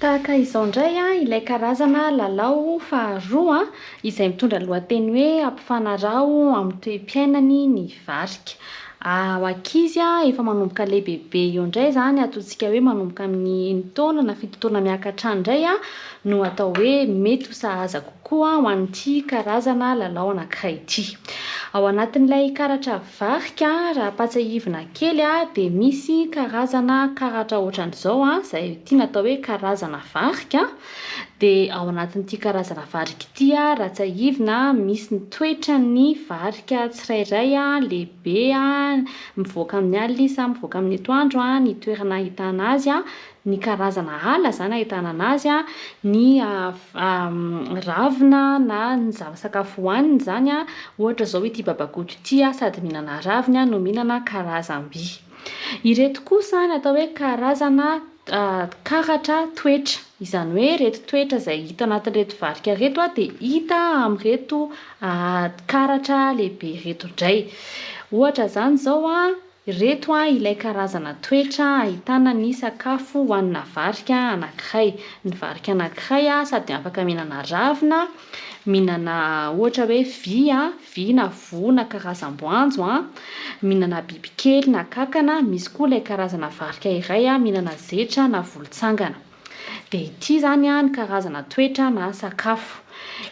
Tahaka izao indray ilay karazana lalao faharoa izay mitondra lohateny hoe Ampifanaraho amin'ny toe-piainany ny varika. Ho ankizy efa manomboka lehibebe eo indray izany, ataontsika hoe manomboka amin'ny enin-taona na fito taona miaka hatrany indray no atao hoe mety ho sahaza kokoa ho an'ity karazana lalao anankiray ity. Ao anatin'ilay karatra Varika, raha ampatsiahivina kely a, dia misy karazana karatra ohatran'izao a, izay tiana atao hoe karazana varika, dia ao anatin'ity karazana varika ity a, raha tsiahivina, misy ny toetran'ny varika tsirairay a, lehibe a, mivoaka amin'ny alina izy sa mivoaka amin'ny atoandro a, ny toerana ahitana azy a, ny karazana ala izany ahitana anazy, ny ravina na ny zava-tsakafo hohaniny izany, ohatra izao ity babagoto ity sady mihinana raviny no mihinana karazam-by. Ireto kosa no atao hoe karazana karatra toetra, izany hoe ireto toetra izay hita anatin'ireto varika ireto dia hita amin'ireto karatra lehibe ireto indray. Ohatra izany izao Ireto a ilay karazana toetra ahitana ny sakafo hohanina varika anankiray. Ny varika anankiray a sady afaka mihinana ravina, mihinana ohatra hoe vy a, vy na voa na karazam-boanjo a, mihinana bibikely na kankana, misy koa ilay karazana varika iray a mihinana zetra na volotsangana. Dia ity izany ny karazana toetra na sakafo.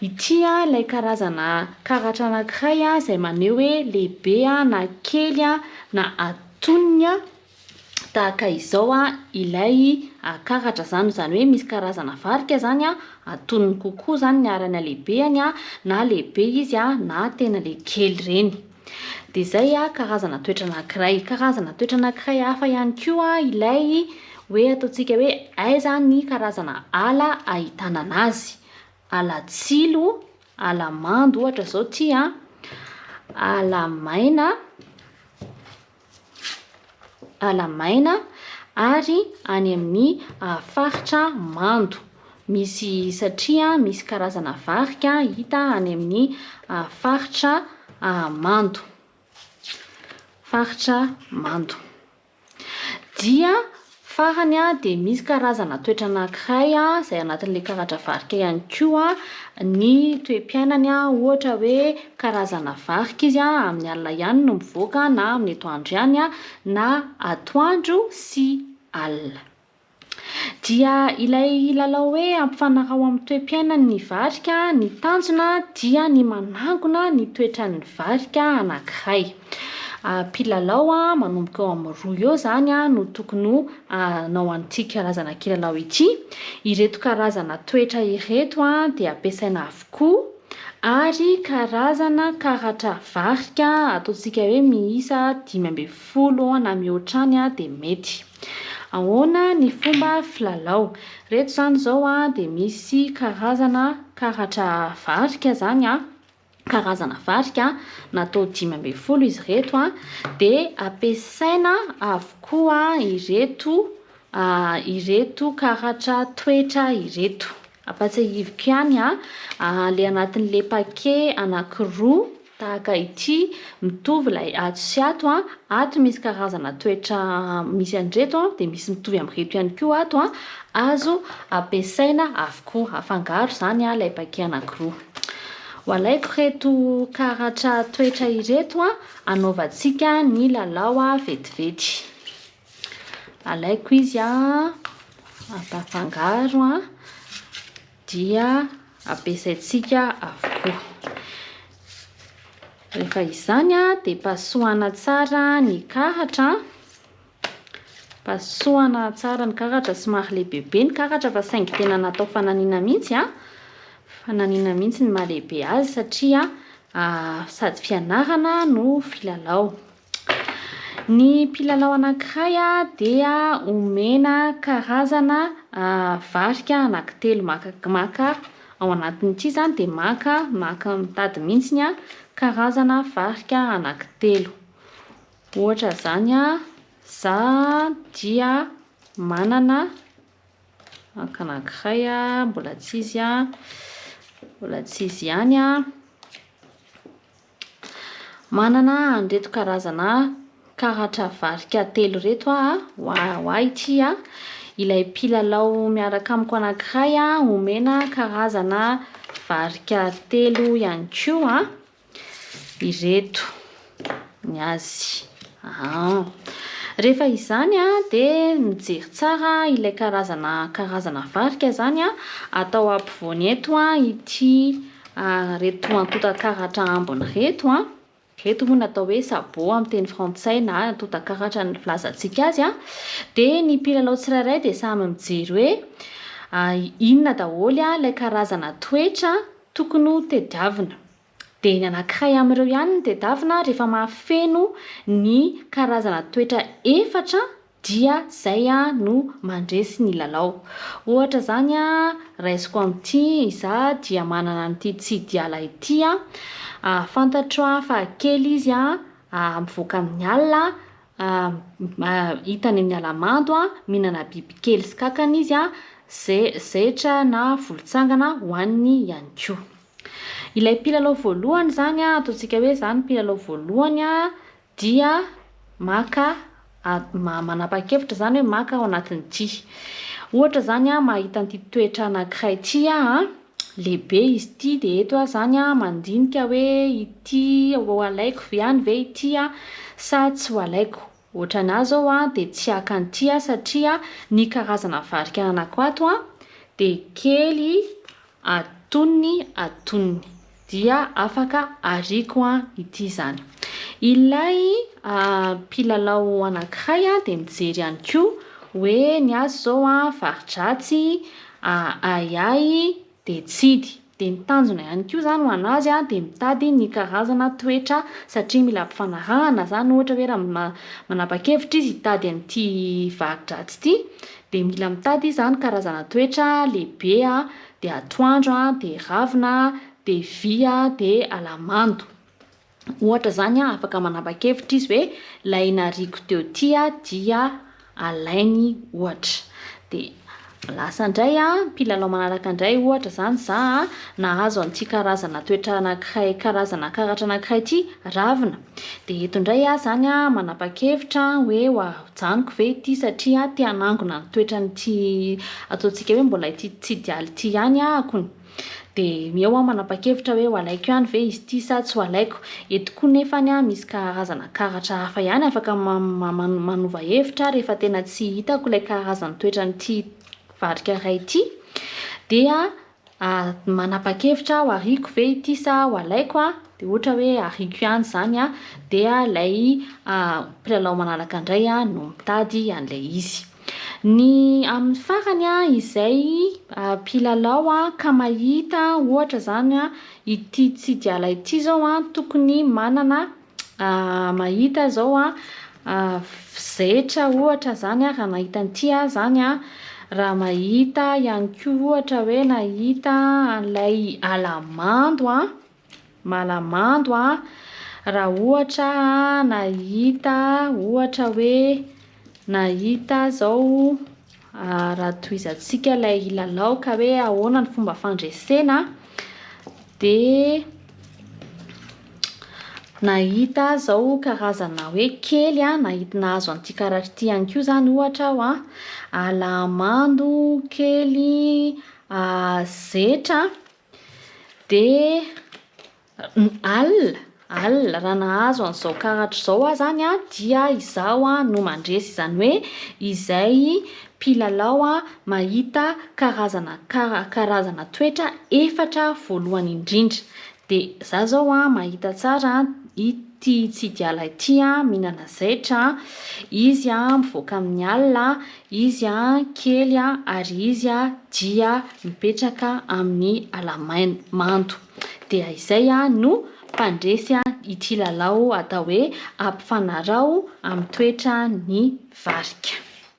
Ity ilay karazana karatra anankiray izay maneho hoe lehibe na kely na atonony tahaka izao ilay karatra izany. Izany hoe misy karazana varika izany atonony kokoa izany ny haran'ny halehibeny na lehibe izy na tena ilay kely ireny. Dia izay karazana toetra anankiray. Karazana toetra anankiray hafa ihany koa ilay hoe ataontsika hoe aiza ny karazana ala ahitana anazy. Ala tsilo, ala mando ohatra izao ity an, ala maina, ala maina ary any amin'ny faritra mando. Misy satria misy karazana varika hita any amin'ny faritra mando, faritra mando dia Farany dia misy karazana toetra anankiray izay anatin'ilay karatra varika ihany koa ny toe-piainany, ohatra hoe karazana varika izy amin'ny alina ihany no mivoaka na amin'ny atoandro ihany na atoandro sy alina. Dia ilay lalao hoe ampifanaraho amin'ny toe-piainan'ny varika ny tanjona dia ny manangona ny toetran'ny varika anankiray. Mpilalao manomboka eo amin'ny roa eo izany no tokony ho hanao an'ity karazana kilalao ity. Ireto karazana toetra ireto dia ampiasaina avokoa ary karazana karatra varika ataontsika hoe miisa dimy ambin'ny folo na mihoatra any dia mety. Ahoana ny fomba filalao? Ireto izany izao dia misy karazana karatra varika izany. karazana varika natao dimy ambin'ny folo izy ireto dia ampiasaina avokoa ireto ireto karatra toetra ireto. Ampatsahiviko ihany ilay anatin'ilay paquet anankiroa tahaka ity mitovy ilay ato sy ato, ato misy karazana toetra misy an'ireto dia misy mitovy amin'ireto ihany koa ato, azo ampiasaina avokoa, afangaro izany ilay paquet anankiroa. Walaiko reto karatra toetra ireto an, anaovantsika ny lalao vetivety. Alaiko izy an, ampafangaro an, dia ampiasaintsika avokoa. Rehefa izany an, dia pasohana tsara ny karatra an. Pasohana tsara ny karatra, somary lehibebe ny karatra fa saingy tena natao fananina mihitsy a, fananina mihitsy ny mahalehibe azy satria sady fianarana no filalao. Ny mpilalao anankiray dia omena karazana varika anankitelo maka maka ao anatin'ity izany dia maka maka mitady mihitsy ny karazana varika anankitelo. Ohatra izany za dia manana anka anankiray mbola tsy izy mbola tsy izy ihany aho, manana an'ireto karazana karatra varika telo ireto aho ho ahy ity, ilay mpilalao miaraka amiko anankiray omena karazana varika telo ihany koa. Ireto ny azy. Aa. Rehefa izany dia mijery tsara ilay karazana karazana varika izany atao ampovoany eto ity reto antontan-karatra ambiny reto. Ireto moa no atao hoe sabot amin'ny teny frantsay na antontan-karatra ny filazantsika azy. Dia ny mpilalao tsirairay dia samy mijery hoe inona daholo ilay karazana toetra Tokony ho tediavina. Dia ny anankiray amin'ireo ihany no tedavina rehefa mahafeno ny karazana toetra efatra dia izay no mandresy ny lalao. Ohatra izany raisiko amin'ity, izaho dia manana an'ity Tsidiala ity, fantatro fa kely izy mivoaka amin'ny alina, hitany amin'ny ala-mando, mihinana bibikely sy kankana izy, ze, zetra na volontsangana hohaniny ihany koa. Ilay mpilalao voalohany izany an, ataontsika hoe izaho no mpilalao voalohany an, dia maka a- ma- manapa-kevitra izany hoe maka ao anatin'ity. Ohatra izany an, mahita an'ity toetra anankiray ity aho an, Lehibe izy ity dia eto aho zany a mandinika hoe ity ho alaiko ihany ve ity a sa tsy ho alaiko. Ohatran'ahy zao a dia tsy haka an'ity aho satria ny karazana varika ananako ato a dia kely atonony atonony. dia afaka ariako an ity izany. Ilay mpilalao anankiray dia mijery ihany koa hoe ny azy izao an fari-dratsy, ahiahy dia tsidy. Dia ny tanjona ihany koa izany ho an'azy dia mitady ny karazana toetra satria mila ampifanarahana izany ohatra hoe raha ma- manapa-kevitra izy hitady an'ity fari-dratsy ity dia mila mitady izany karazana toetra lehibe dia atoandro an, dia ravina an, dia vy an, dia alamando. Ohatra izany an, afaka manapa-kevitra izy hoe ilay nariako teo ity an, dia alainy ohatra. Dia lasa indray an, mpilalao manaraka indray ohatra izany iza an, nahazo an'ity karazana toetra anankiray, karazana karatra anankiray ity, ravina. Dia eto indray aho izany manapa-kevitra hoe ho hajanoko ve ity satria te hanangona ny toetran'ity ataontsika hoe mbola ity tsy idealy ity ihany ahako. Dia eo aho manapa-kevitra hoe ho alaiko ihany ve izy ity sa tsy ho alaiko. Eto koa nefa misy karazana karatra hafa ihany afaka manova hevitra rehefa tena tsy hitako ilay karazan'ny toetran'ity varika iray ity dia Ary manapa-kevitra aho ariako ve ity sa ho alaiko a, dia ohatra hoe ariako ihany izany an, dia ilay mpilalao manaraka indray no mitady an'ilay izy. Ny amin'ny farany an, izay mpilalao ka mahita ohatra izany an, ity tsidialahy ity izao an, tokony manana mahita izao an, zetra ohatra izany an, raha mahita an'ity aho izany an, raha mahita aho ihany koa ohatra hoe nahita an'ilay ala mando an, ala mando an, raha ohatra aho nahita ohatra hoe nahita aho izao. Raha tohizantsika ilay lalao ka hoe ahoana ny fomba fandresena dia nahita aho izao karazana hoe kely an, nahita nahazo an'ity karatra ity ihany koa izany ohatra aho an, alahamando, kely, zetra dia Alina, alina, raha nahazo an'izao karatra izao aho izany an, dia izaho no mandresy, izany hoe izay mpilalao mahita karazana kara karazana toetra efatra voalohany indrindra, dia izaho izao an mahita tsara ity Tsidiala ity an, mihinana zaitra an, izy an mivoaka amin'ny alina, izy an kely an, ary izy an dia mipetraka amin'ny ala maina mando. dia izay no mpandresy ity lalao atao hoe ampifanaraho amin'ny toetran'ny varika.